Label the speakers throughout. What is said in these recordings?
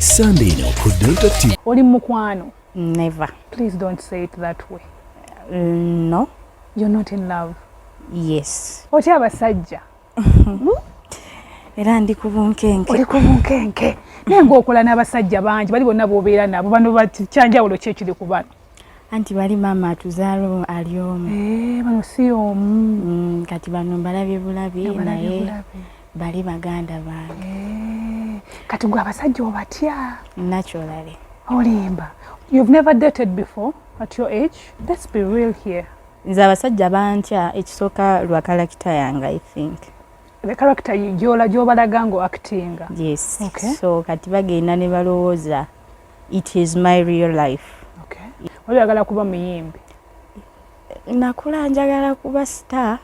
Speaker 1: Sunday eno ku Delta TV. Oli mukwano?
Speaker 2: Never.
Speaker 3: Please don't say
Speaker 2: it that way. Mm, no.
Speaker 3: You're not
Speaker 2: in love. Yes.
Speaker 3: Otya abasajja? Era ndi kubunkenke. Oli kubunkenke.
Speaker 2: Naye ng'okola n'abasajja bangi bali bonna b'obeera nabo bano bakyanjawulo ki ekiri ku bano? Anti bali
Speaker 3: maama atuzaala ali omu. Eh, bano si omu.
Speaker 2: Mm, kati bano mbalabye
Speaker 3: bulabi naye. bali baganda bange eh, kati gwe abasajja
Speaker 2: obatya naturally
Speaker 3: olimba
Speaker 2: you've never dated before at your age let's be real here nze abasajja
Speaker 3: bantya ekisooka lwa karakita yange i think the character
Speaker 2: gyola gyobalaga ngo acting yes okay.
Speaker 3: so kati
Speaker 2: bagenda
Speaker 3: ne balowooza it is my real life okay.
Speaker 2: oyagala kuba muyimbi
Speaker 3: nakula njagala kuba star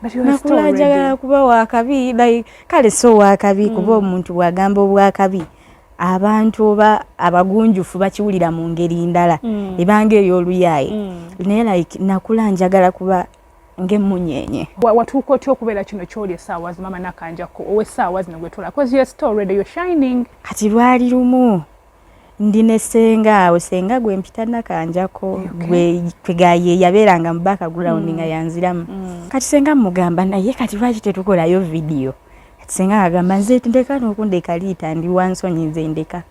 Speaker 2: nakula njagala kuba
Speaker 3: wakabi like kale so wakabi mm. kuba omuntu bwagamba obwakabi abantu oba abagunjufu bakiwulira mu ngeri ndala mm. ebanga ey'oluyaaye mm. naye like nakula njagala kuba ngemunyenye watuuka otya
Speaker 2: okubeera kino kyoli esaawa zimama nakanjako owesaawa zino gwetula bcause you're still ready you're shining kati lwali lumu
Speaker 3: ndi ne senga awo senga gwe mpita nakanjako gwe kwegaye yaberanga mu back ground mm. nga yanziramu mm. kati senga mugamba naye kati lwaki tetukolayo video kati senga agamba nze ndeka nokundeka liita ndi wansonyi nze ndeka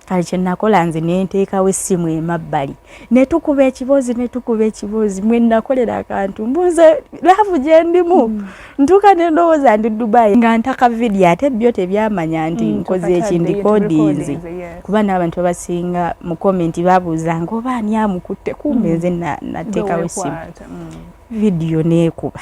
Speaker 3: kati kyenakola nze nenteekawo essimu emabbali netukuba ekiboozi netukuba ekiboozi mwenakolera akantu mbuze laavu gyendimu mm. ntuuka nendowooza ndi dubai nga ntaka vidiyo ate byo tebyamanya nti mm, nkoze ekindikodinzi kuba n'abantu abasinga mu komenti babuuza nga oba ani amukutte kumbe mm. nze natekawo esimu vidiyo nekuba